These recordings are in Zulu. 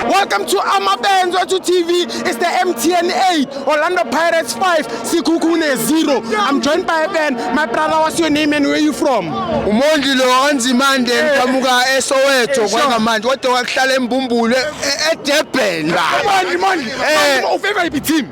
Welcome to Amabenzo to TV. It's the MTN 8, Orlando Pirates 5, Sikukune 0. I'm joined by a band. My brother, what's your name and where are you from? Umondi lo anzimande ngidamuka eh. eSoweto eh, kwanga manje kodwa wakuhlala eMbumbulu eDurban. Umondi, Mondi. Eh. Ufavor iphi team?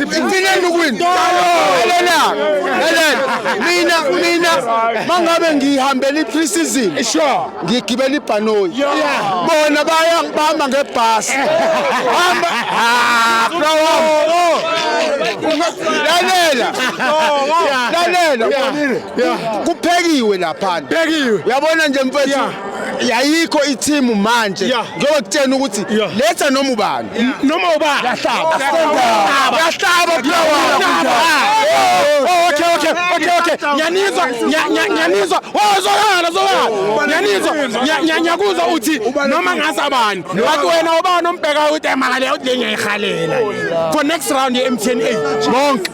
Ngithini ukuwina? Lalela. Lalela. Mina mina mangabe ngihambela i-pre-season. Ngigibela ibhanoyi. Bona baya bahamba ngebhasi. Hamba. Ah, bro. Lalela. Lalela. Kuphekiwe lapha. Uyabona nje mfethu. yayikho ithimu manje Yeah. njengoba kutshena ukuthi Yeah. letha noma ubani noma uba yahlaba yahlaba okay okay okay okay nyanizwa nya- nya- nyanizwa oh zokhala zokhala nyanizwa nya- nya- nyakuzwa uthi noma ngase abani but wena ubani ombhekayo uthi emali uthi le ngiyayihalela for next round ye-mtn 8 bonke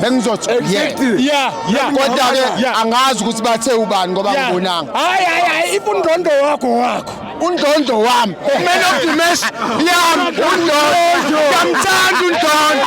bengizothi kodwa-ke angazi ukuthi bathe ubani ngoba ngibonanga hayi hayi hayi ifundonto wakho wakho undondo wami man of the match yami undondo ngiyamthanda undondo